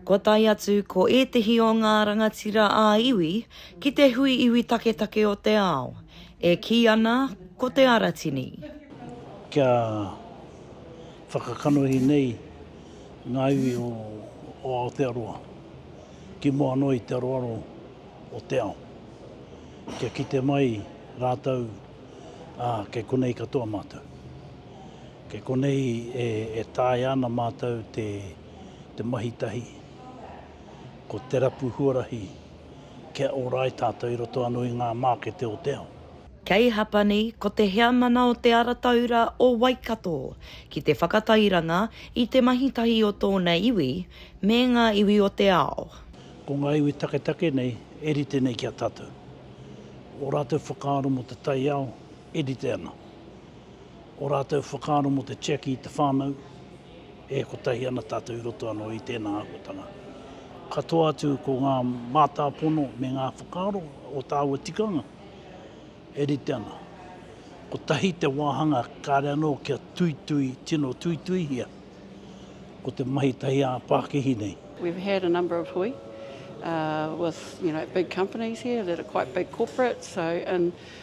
Kua tae atu ko ētehi o ngā rangatira ā-iwi ki te hui iwi taketake o te ao, e kī ana ko Te Aratini. Kia whakakanohi nei ngā iwi o Aotearoa ki mua noa i te aroaro o te ao, kia kite mai rātou kei konei katoa mātou. Kei konei e taea ana mātou te mahi tahi, ko te rapu huarahi kia ōrai tātou i roto anō i ngā mākete o te ao. Kei Hapani ko te heamana o Te Ara Taura o Waikato ki te whakatairanga i te mahi tahi o tōna iwi me ngā iwi o te ao. Ko ngā iwi taketake nei e rite nei ki a tātou. Ō rātou whakaaro mō te taiao e rite ana. Ō rātou whakaaro mō te tiaki i te whānau, e kotahi ana tātou i roto anō i tēnā āhuatanga. Katoa atu ko ngā mātāpono me ngā whakaaro o tāua tikanga e rite ana. Kotahi te wāhanga kāre anō kia tuitui, tino tuituihia, ko te mahi tahi ā-pākihi nei. We've had a number of hui with big companies here that are quite big corporate, so in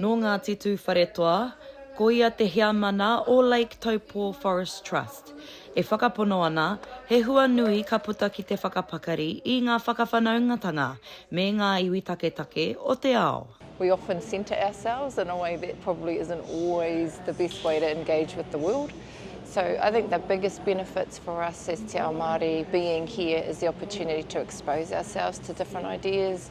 Nō Ngāti Tūwharetoa, ko ia te heamana o Lake Taupō Forest Trust, e whakapono ana he hua nui ka puta ki te whakapakari i ngā whakawhanaungatanga me ngā iwi taketake o te ao. We often centre ourselves in a way that probably isn't always the best way to engage with the world. So I think the biggest benefits for us as Te Ao Māori being here is the opportunity to expose ourselves to different ideas,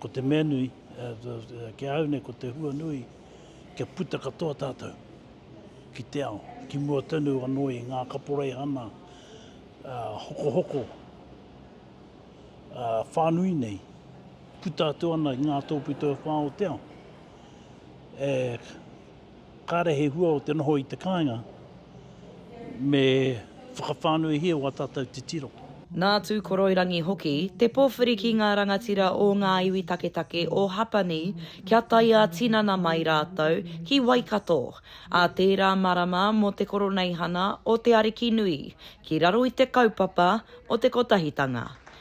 Ko te mea nui, ki a au nei ko te hua nui, kia puta katoa tātou ki te ao, ki mua tonu anō i ngā kaporeihana hokohoko whānui nei, puta atu ana i ngā tōpito e whā o te ao. Kāre he hua o te noho i te kāinga me whakawhānuihia o ā tātou titiro. Nā Tūkoroirangi hoki te pōwhiri ki ngā rangatira o ngā iwi taketake o Hapani kia tae ā-tinana mai rātou ki Waikato ā tērā marama mō te Koroneihana o Te Arikinui ki raro i te kaupapa o te Kotahitanga